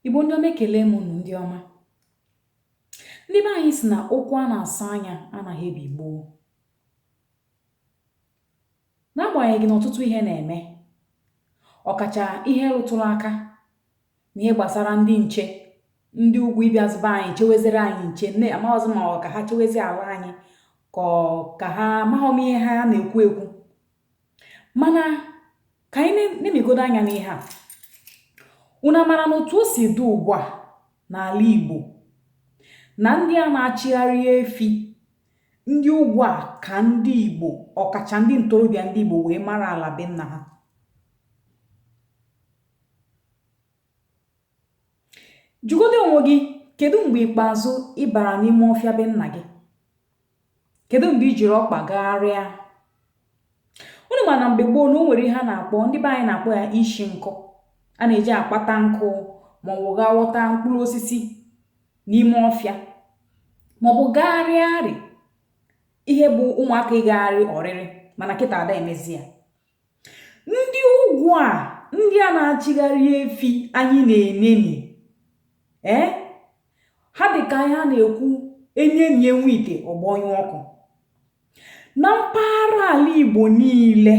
Igbo ndị ọma ekele m unu ndị ọma. Ndị be anyị sị na okwu a na-asọ anya anaghị ebi gboo. N'agbanyeghị na ọtụtụ ihe na-eme, ọkacha ihe rụtụrụ aka n'ihe gbasara ndị nche, ndị ugwu ịbịazị be anyị chewezere anyị nche, nne amaghọzị ma ọ ka ha chewezi ala anyị ka ọ ka ha amaghọ m ihe ha na-ekwu ekwu mana ka anyị nenegodo anya n'ihe a unu amara na otu o si dị ugbu a n'ala Igbo na ndị a na-achịgharị efi ndị ugwu a ka ndị Igbo ọkacha ndị ntorobịa ndị Igbo wee mara ala be nna ha jụgodo onwe gị kedu mgbe ikpeazụ ị bara n'ime ọfịa be nna gị kedu mgbe i jiri ọkpa gagharịa unu ma na mgbe gboo na o nwere ihe a na-akpọ ndị be anyị na-akpọ ya ishi nkụ a na-eji akpata nkụ ma ọ bụ gaa ghọta mkpụrụ osisi n'ime ọfịa ma ọ bụ gagharịarị ihe bụ ụmụaka ịgagharị ọrịrị mana kịta ada emezi ya ndị ugwu a ndị a na-achịgharị efi anyị na-eneni ee ha dị ka ihe a na-ekwu enenie nwa ite ọ gbọnyụọ ọkụ na mpaghara ala igbo niile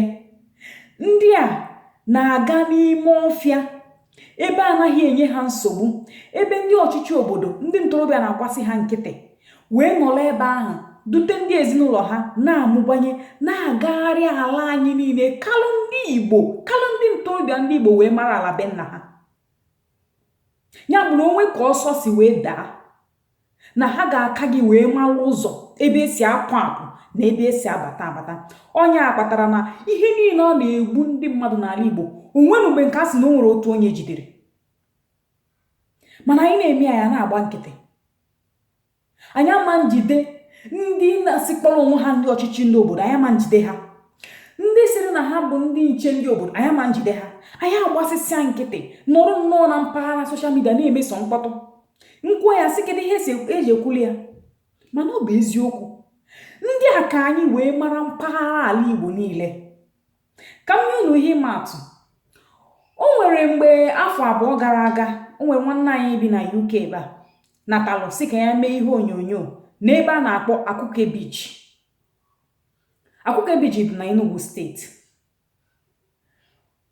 ndị a na-aga n'ime ọfịa ebe anaghị enye ha nsogbu ebe ndị ọchịchị obodo ndị ntorobịa na-agbasị ha nkịtị wee nọrọ ebe ahụ dute ndị ezinụlọ ha na-amụbanye na-agagharị ala anyị niile kalụ ndị igbo kalụ ndị ntorobịa ndị igbo wee mara ala be nna ha ya bụ na o nwee ka ọsọ si wee daa na ha ga-aka gị wee mara ụzọ ebe esi apụ apụ na ebe esi abata abata ọ nya kpatara na ihe niile ọ na-egbu ndị mmadụ n'ala Igbo o nwere mgbe nke a sị na o nwere otu onye e jidere mana anyị na-ene anya na-agba nkịtị anyị ama njide ndị na-asị kpọrọ onwe ha ndị ọchịchị ndị obodo anyị ama njide ha ndị sịrị na ha bụ ndị nche ndị obodo anyị ama njide ha anyị agbasịsịa nkịtị nọrọ nnọọ na mpaghara soshal midia na-eme sọ mkpọtụ m kwuo ya sị kedu ihe eji ekwuli ya mana ọ bụ eziokwu ndị a ka anyị wee mara mpaghara ala igbo niile ka m nye unu ihe ịma atụ o nwere mgbe afọ abụọ gara aga o nwere nwanne anyị bi na uk ebe a natalụ sị ka ya mee ihe onyonyo n'ebe a na-akpọ akwuke beach akwuke beach dị na enugu steeti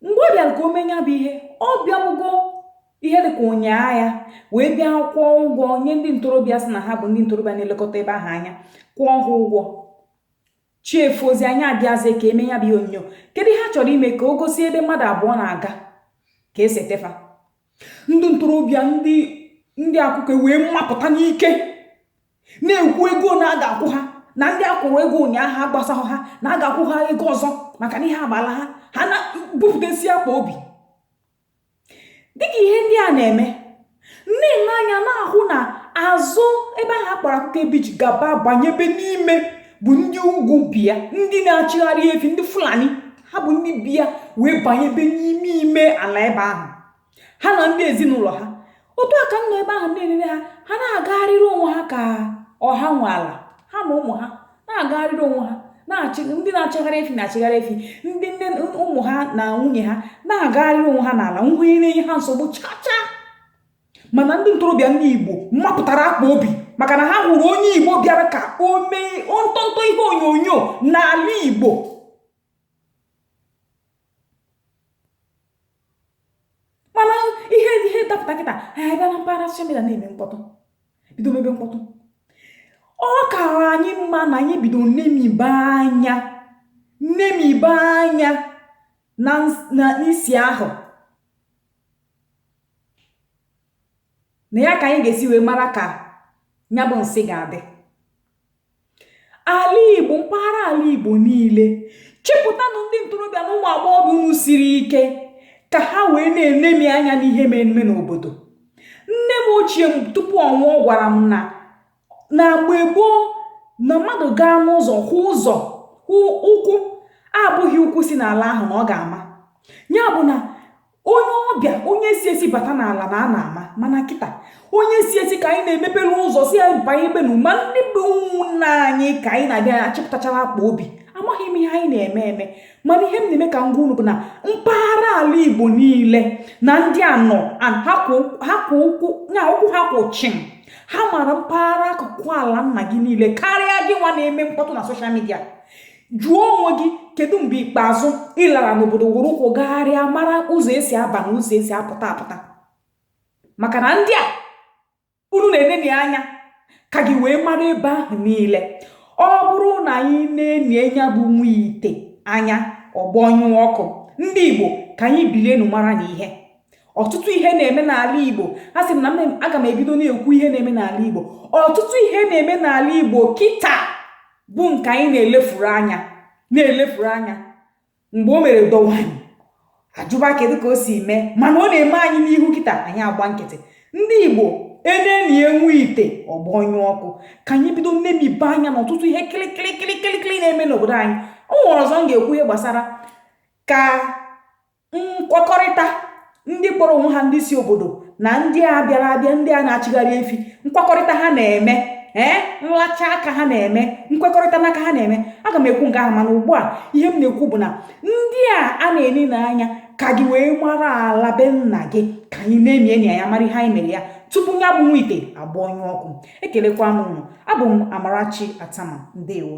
mgbe ọ bịara ka o mee ya bụ ihe ọ bịabugo ihe dị ka ụnyaa ya wee bịa kwụọ ụgwọ nye ndị ntorobịa sị na ha bụ ndị ntorobịa na-elekọta ebe ahụ anya kwụọ ha ụgwọ chi efozia nya abịazi ka e mee ya bụ ihe onyonyo kedu ihe a chọrọ ime ka o gosi ebe mmadụ abụọ na-aga ka e sete fa ndị ntorobịa ndị akwuke wee mapụta n'ike na-ekwu ego na a ga-akwụ ha na ndị a kwụrụ ego ụnyaahụ agbasahụ ha na a ga-akwụ ha ego ọzọ maka na ihe agbala ha ha na-ebupụtasi akpa obi dịka ihe ndị a na-eme m nee anya na-ahụ na azụ ebe ahụ a kpọrọ akwuke beach gaba banyebe n'ime bụ ndị ugwu bi ya ndị na-achịgharị efi ndị fulani ha bụ ndị bi ya wee banyebe n'ime ime ala ebe ahụ ha na ndị ezinụlọ ha otu a ka m nọ ebe ahụ na-elele ha ha na-agagharịrị onwe ha ka ọ ha nwe ala ha na ụmụ ha na-agagharịrị onwe ha ndị na-achịgharị efi na-achịgharị efi ndị nne ụmụ ha na nwunye ha na-agagharịrị onwe ha n'ala enweghị onye na-enye ha nsogbu chacha mana ndị ntorobịa ndị igbo mapụtara akpa obi maka na ha hụrụ onye igbo bịara ka o mee ntọntọ ihe onyonyo n'ala igbo mana ihe ihe dapụta kịta ha bịa na mpaghara soshal midia na-eme mkpọtụ bido mebe mkpọtụ ọ kara anyị mma na anyị bido nemibe anya nemibe anya na n'isi ahụ na ya ka anyị ga-esi wee mara ka ya bụ nsị ga-adị ala igbo mpaghara ala igbo niile chepụtanụ ndị ntorobịa na ụmụ agbọghọbịa unu siri ike ka ha wee na-enemi anya n'ihe mere eme n'obodo nne m ochie m tupu ọ nwụọ gwara m na na mgbe gboo na mmadụ gaa n'ụzọ hụ ụzọ ụkwụ abụghị ụkwụ si n'ala ahụ na ọ ga-ama ya bụ na onye ọbịa onye si esi bata n'ala na a na-ama mana kịta onye si esi ka anyị na-emepere ụzọ sị ya banyebenụ ma ndị bụ ụmụnna anyị ka anyị na-abịa achịpụtachara akpa obi amaghị m ihe anyị na-eme eme mana ihe m na-eme ka m gwa unu bụ na mpaghara ala igbo niile na ndị a nọ ha kwụ ụkwụ na ụkwụ ha kwụ chịm ha mara mpaghara akụkụ ala nna gị niile karịa gị nwa na-eme mkpọtụ na soshal midia jụọ onwe gị kedu mgbe ikpeazụ ị lara n'obodo were ụkwụ gagharịa mara ụzọ e si aba na ụzọ e si apụta apụta maka na ndị a unu na-eneni anya ka gị wee mara ebe ahụ niile ọ bụrụ na anyị nenie nya bụ nwa ite anya ọ gbọnyụọ ọkụ ndị igbo ka anyị bilienu mara na ihe ọtụtụ ihe na-eme n'ala igbo a sị m na aga m ebido na-ekwu ihe na-eme n'ala igbo ọtụtụ ihe na-eme n'ala igbo kịta bụ nke anyị na-elefuru anya na-elefuru anya mgbe o mere dọwa anyị ajụba kedu ka o si mee mana ọ na-eme anyị n'ihu kịta anyị agba nkịtị ndị igbo e nenie nwa ite ọ gbọnyụọ ọkụ ka anyị bido nnebabe anya n'ọtụtụ ihe kịlịkịlịkịlịkịlị na-eme n'obodo anyị o nwere ọzọ m ga-ekwu ihe gbasara ka nkwekọrịta ndị kpọrọ onwe ha ndị si obodo na ndị a bịara abịa ndị a na-achịgharị efi nkwekọrịta ha na-eme ee nlacha aka ha na-eme nkwekọrịta n'aka ha na-eme aga m ekwu nke ahụ mana ugbu a ihe m na-ekwu bụ na ndị a a na-eneni anya ka gị wee mara ala be nna gị ka anyị na-ene anya mara ihe anyị mere ya tupu ya bụ nwa ite agbọnyụọ ọkụ ekelekwa m unu abụ m amarachi attamah ndewo